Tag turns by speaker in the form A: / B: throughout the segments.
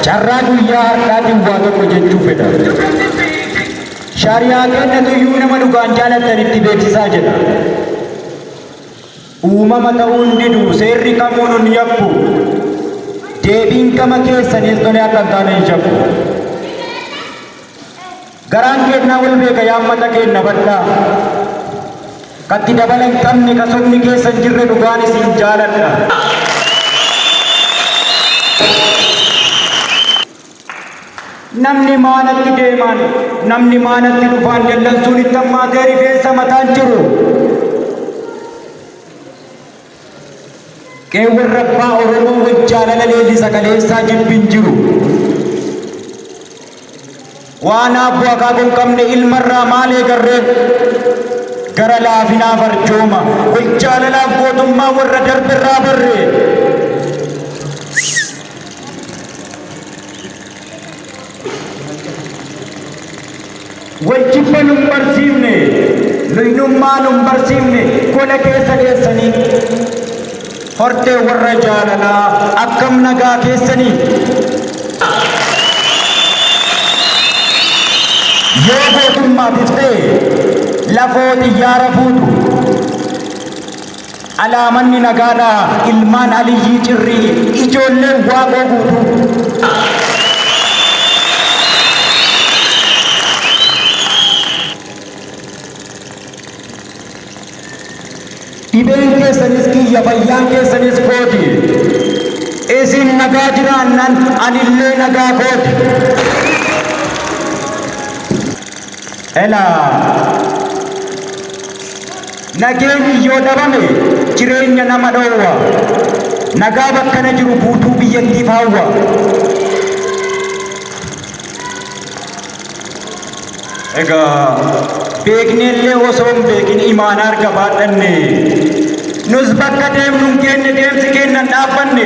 A: Carraa guyyaa har'aa duwwaa tokko jechuu fedha. Shaariyaa kennatu iyyuu nama dhugaan jaalattan itti beeksisaa jedha. Uumama ta'uun didu seerri kamuu nun yakku. Deebiin gama keessaniis tole akka hin taane hin shakku. Garaan keenna wol beeka yaa ummata keenna badha ka itti dabala hin qabne ka sobni keessa hin jirre dhugaan isiin jaaladha. Namni maanatti deemaan namni maanatti dhufaan dallansuun itti hammaatee rifeensa mataan jiru. Qeewwan rabbaa Oromoo waj jaalala leellisa kaleessaa jibbi hin jiru. Waan aabbo akaako hin qabne ilmarraa maal eegarre? Gara laafinaaf arjooma, wal jaalalaaf gootummaa warra darberraa barre. Wal jibba nun barsiifne, luynummaa nun barsiifne gola keessa deessanii. Hortee warra jaalalaa akkam nagaa keessanii? Yoo gootummaatiif ta'e lafoo xiyyaara fuutu. Alaa manni nagaadhaa ilmaan Aliyyii Cirrii ijoolleen Waaqoo guutuu. Dhibeen keessanis kiyya fayyaan keessanis kooti. Isin nagaa jiraannan anillee nagaa kooti. Elaa! Nageenyi yoo dhabame jireenya nama dhoowwa. Nagaa bakkana jiru guutuu biyyattiif hawwa. Egaa beekneellee osoo hin beekin imaanaa erga baadhanne nus bakka deemnu hin geenye deemsi keenya hin dhaabbanne.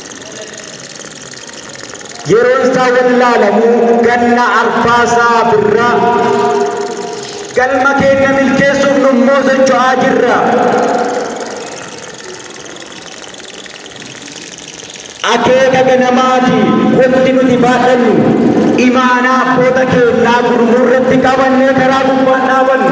A: yeroon isaa wallaalamu ganna arfaasaa birra galma keenya milkeessuuf nummoo socho'aa jirra. Akeeka ganamaa fi wanti nuti baadhannu imaanaa abboota keenyaa gurmuu irratti qabannee karaa gubbaan dhaabannu.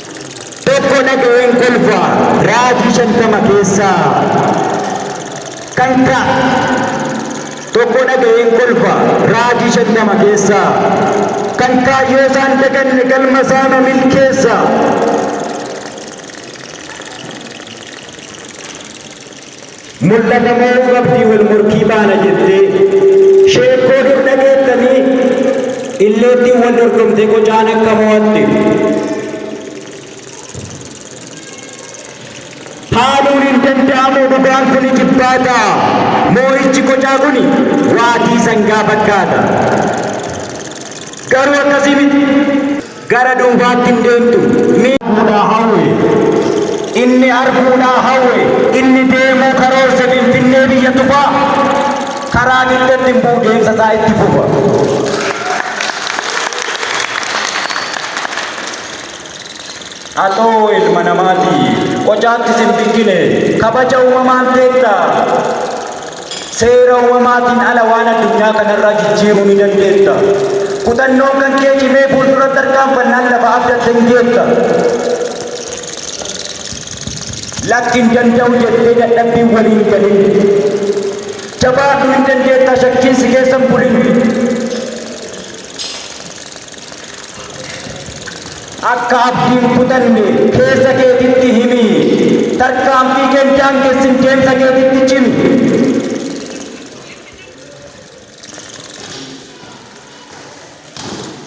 A: Tokko dhaga'een kolfa raajii shantama keessaa kan ka Tokko dhaga'een kolfa raajii shantama keessaa kan kaayyoo isaan daganne galma isaanu milkeessa. Mul'ata moo qabdii wal morkii baana jettee Sheekkoo dur dhageettanii? Illeettiin wal dorgomtee qocaan akka mo'atte Haaluun hin danda'amu dhugaan kun ijibbaata Moo'ichi qocaa kun waatii sangaa fakkaata Garuu akkasii miti! Gara duubaatti hin deemtu. Ni. arguudhaa hawwe. Inni arguudhaa hawwe. Inni deemuu karoorse Finfinnee biyya tufaa karaa dugdatti hin bu'u deemsa isaa itti fufa. Atoo ilma namaati. Qocaatti sin bikkine. Kabaja uumamaan teetta. Seera uumamaatiin ala waan addunyaa kanarraa jijjiiruu ni dandeetta. Kutannoon kan kee cimee fuulduratti tarkaanfannaan lafa abdatte ni geetta. Lakki hin danda'u jettee dadhabbiin walii hin galin. Jabaadhu hin dandeetta shakkiin si keessa hin bulin. Akka abdii hin kutanne keessa keetitti himi. Tarkaanfii kee hin daangessin deemsa keetitti cimi.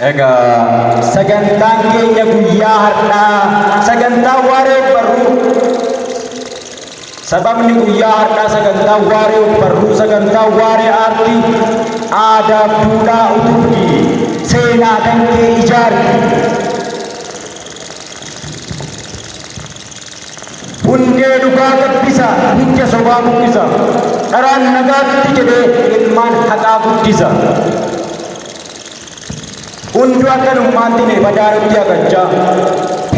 A: Egaa sagantaan keenya guyyaa har'aa sagantaa waaree barruu Sababni guyyaa har'aa sagantaan waaree ogbarruu, sagantaan waaree aartii, aadaaf duudhaa utubdi, seenaa kan kee ijaarti. Hundee dhugaa gabbisa, hidda sobaa buqqisa, dharaan nagaatti jedhee ilmaan haqaa guddisa. Hunduu akka nummaatti mee badaa nutti hagachaa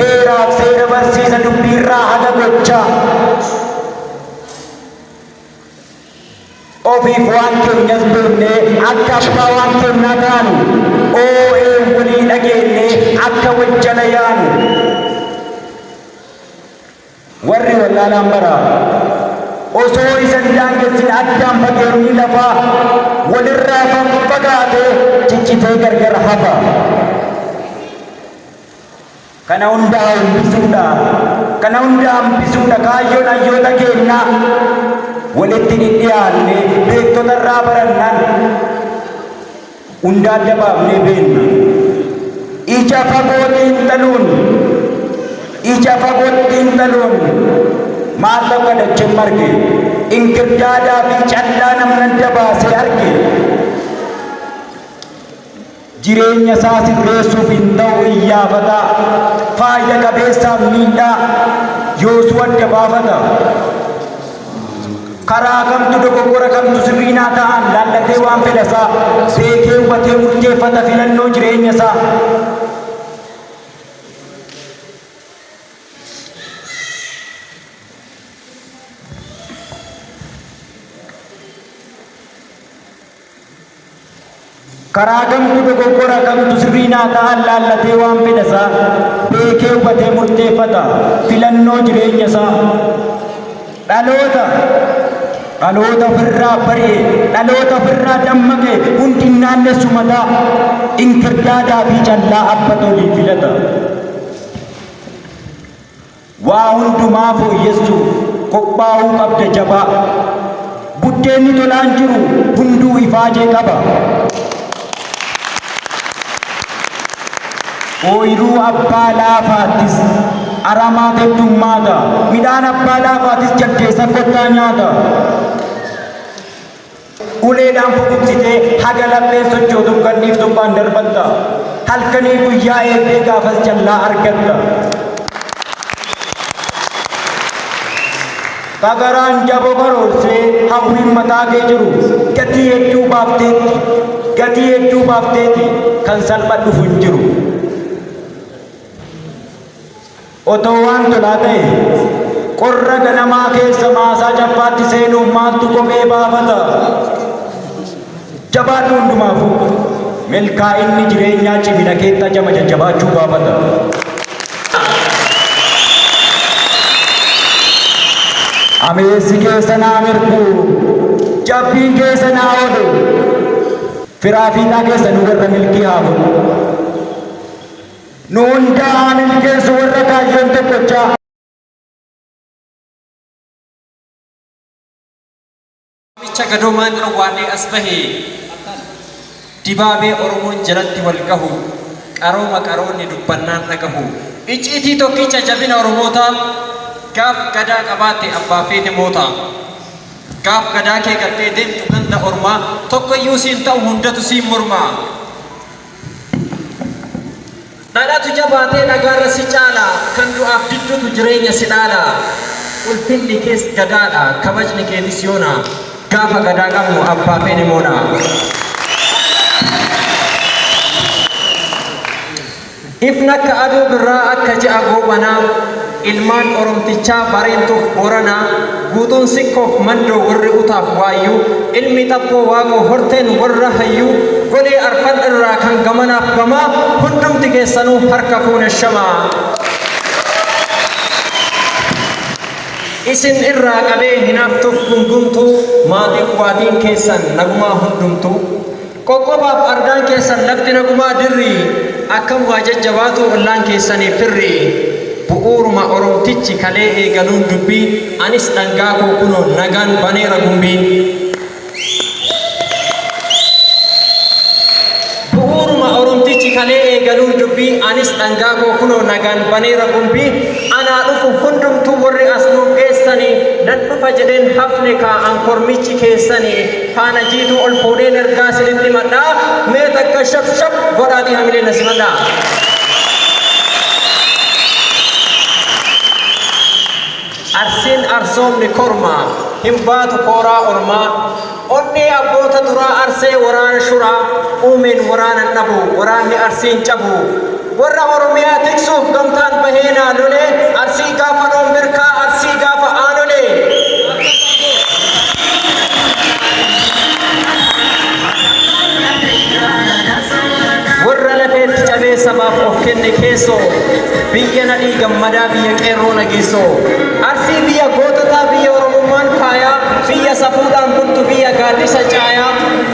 A: heeraaf seera barsiisa dubbiirraa haga gochaa ofiif waan keenyas beeknee akka abbaa waan keennaa taanu oo'ee walii dhageennee akka wajjala yaanu Warri wallaalaan bara osoo isa hin daangessin addaan fageenyi lafaa wal irraa faffagaatee ciccitee gargar hafa. Kana hunda hambisuudha, kana hunda hambisuudha kaayyoon hayyoota keennaa. Walitti dhidhiyaannee beektota irraa barannaan Hunda adda baafnee beenna. Ija fagoo xiinxaluun Ija fagootti xiinxaluun Maal tokko dacheen marge Inkirdaadaa fi callaa namni adda baasee arge Jireenya isaa sirreessuuf hin ta'u iyyaafata Faayda qabeessaaf miidhaa yoosuu adda baafata karaa kamtu dogoggora kamtu sirriinaa ta'an laallatee waan fedhasaa beekee hubatee murteeffata filannoo jireenya isaa. Karaa kamtu dogoggora kamtu sirrii naa ta'a laallatee waan fedha isaa beekee hubatee murteeffata. Filannoo jireenya isaa. Dhaloota dhaloota ofirraa bari'e, dhaloota ofirraa dammaqe hundi hin naannessu mataa inkirdaadaa fi callaa abba tolii filata. Waa hundumaa fooyyessuuf qophaa'uu qabda jabaa. Buddeenni tolaan jiru hunduu ifaajee qaba. Ooyruu abbaa laafaattis aramaa teddummaata, midhaan abbaa laafaatis jaldeessa kottaa nyaata. Uleedhaan fokoksitee haga lapheen sochootuun gadhiiftummaan darbatta. Halkanii guyyaa eegdee gaafas jallaa argatta. Kagaraan jabo karoorsee hawwiin mataa kee jiru gatii hedduu baafteetti. Gatii hedduu baafteeti kan salpha dhufu hin jiru. Otoo waan tolaa ta'ee, qorra ganamaa keessa maasaa cabbaatti seenuuf maaltu kophee baafata? Jabaadhu hundumaafuu. Milkaa'inni jireenyaa cimina keetti ajama jajjabaachuu gaafata. Ameessi keessa naa mirgu, jabbiin keessa naa oolu. Firaa fiixaa keessa nu warra milkii haa godhu. Nu hundaa haa milkeessu warra kaayyoon tokkochaa.
B: Waamicha Gadoomaan Awwaarree as bahe Dibaabee Oromoon jalatti wal gahu Qarooma qaroonni dubbannaan dhagahu Icciitii tokkicha jabina Oromootaa Gaaf Gadaa qabaatte abbaa feete moota Gaaf Gadaa kee gattee deemtu ganda ormaa Tokkoyyuu siin ta'u hundatu siin morma Dhalatu jabaatee dhagaarra si caala Kan du'aaf diddutu jireenya si dhaala Ulfinni kees Gadaadha kabajni keetis yoona Gaafa Gadaa qabnu abbaa feene moona Ifnakka aduu birraa akka ji'a goobanaa Ilmaan Oromtichaa Bareentuuf Booranaa, Guutuun Sikkoof Mandoo warri Utaaf Waayyuu, Ilmi Xabboo Waaqoo Horteen warra Hayyuu, Golee Arfan irraa kan gamanaaf gamaa, hundumti keessanuu harka fuune shamaa. Isin irraa qabee hinaaftuuf gungumtuu, Maatiif Waatiin keessan nagumaa hundumtuu. Qoqqobaaf argaan keessan lafti nagumaa dirri akkam waa jajjabaatuu ollaan keessanii firri Bu'uuruma Oromtichi kalee eegaluun dubbii anis dhangaa koo kunoo nagaan baneera gumbii Bu'uuruma Oromtichi kalee eegaluun dubbii anis dhangaa koo kunoo nagaan baneera gumbii Anaa dhufu hundumtuu warri as nuuf geessanii nan dhufa jedheen hafne kaa an kormichi keessanii Faana jiituu ol fuudheen ergaa sinitti himadha. Mee takka shap shap godhaatii hamilee na simadha. Arsiin arsoomni kormaa hin baatu kooraa ormaa. Onnee abboota duraa arsee waraana shuraa uumeen waraanan dhabu waraanni arsiin cabu. Warra Oromiyaa tiksuuf gamtaan bahee naa lolee Arsii gaafa roon berkaa Arsii gaafa aanolee Warra lafeetti cabee sabaaf of kenne keessoo Biyya nadhii gammadaa biyya qeerroo nageessoo Arsii biyya goototaa biyya Oromummaan faayaa Biyya safuudhaan bultu biyya gaaddisa caayaa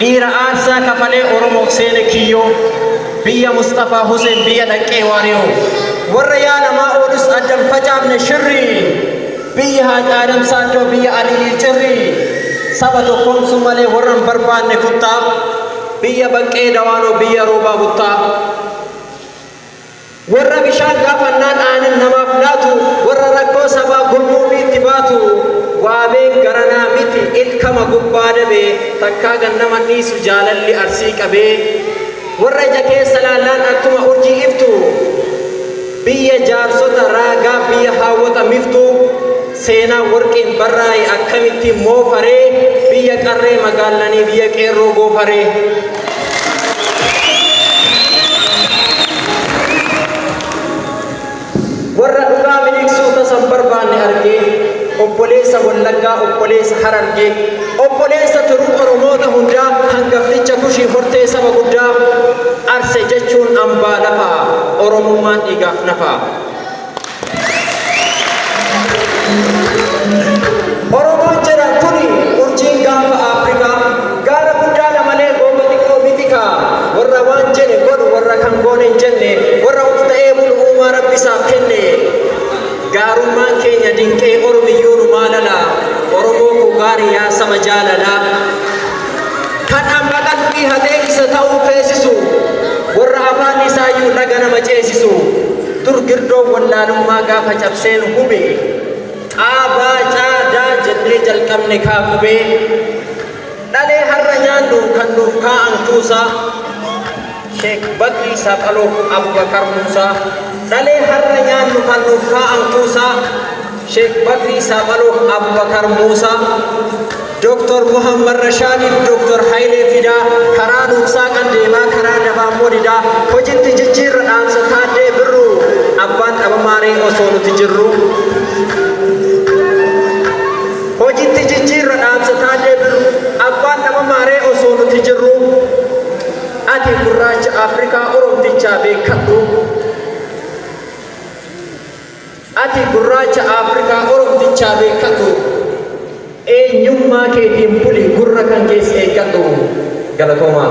B: Dhiira aarsaa kafalee Oromoof seene kiyyoo Biyya Musxafaa Huseen biyya dhaqqee waariyoo Warra yaa namaa oolus addan facaafne shirrii Biyya Haaj Aadam Saaddoo biyya Aliyyii cirrii Saba tokkoomsuu malee warra hin barbaanne kuttaa Biyya Baqqee Dawaanoo biyya Roobaa Buttaa Warra bishaan gaafannaan aanan namaaf laatu, warra rakkoo sabaa gurmuu fi itti baatu, waabeen garanaa miti ilkama gubbaa dabe, takkaa gad nama hin dhiisu jaalalli Arsii qabe. Warra ija keessa laallaan akkuma urjii iftu, biyya jaarsota raagaa, biyya haawwota miftuu. Seenaan warqiin barraa'e akkamittiin moofa ree? Biyya qarree magaallanii biyya qeerroo goofa ree? Warra dhugaa miliqsuu tasa hin barbaanne argee, obboleessa Wallaggaa, obboleessa Harargee, obboleessa tiruu Oromoota hundaa, hangafticha Kushii hortee saba guddaa, Arse jechuun ambaa lafaa, Oromummaan dhiigaaf nafaa. Oromoon jedhan kuni urjiin gaanfa Afrikaa gaara guddaadha malee goomma xiqqoo mitikaa warra waan jedhe godhu warra kan goone hin jenne warra of ta'ee bulu uumaa rabbi isaaf kenne gaarummaan keenya dinqee oromiyyuu nu maalala Oromoo koo gaarii yaa saba jaalala kan amma qalbii hatee isa ta'uu feesisu warra afaan isaayyuu dhaga nama ceesisu. Dur girdoon wallaalummaa gaafa cabseen hube Xaa baa caa daa jennee jalqabne kaa qubee Dhalee har'a nyaannu kan nuuf kaa'an kuusaa Sheek Bakrii Saaphaloo Abubakar Muusaa Dhalee har'a nyaannu kan nuuf kaa'an kuusaa Sheek Bakrii Saaphaloon Abbakar Muusaa, Dr. Muhammad Rashaadiif Dr. Hayilee Fidaa, karaa nuuf saaqan deemaa karaa dabaa immoo didaa, hojitti jijjiirra dhaamsa Taaddee Birruu, abbaan dhabamaa ree osoo nuti jirruu. Hojitti jijjiirra dhaamsa Taaddee Birruu, abbaan dhabamaa ree osoo nuti jirruu. Ati gurraacha Afrikaa Oromtichaa beekkadhuu. Ati gurraacha Afrikaa Oromtichaa beekkadhu eenyummaa keetiin buli gurra kan kees eeggadhu. Galatoomaa.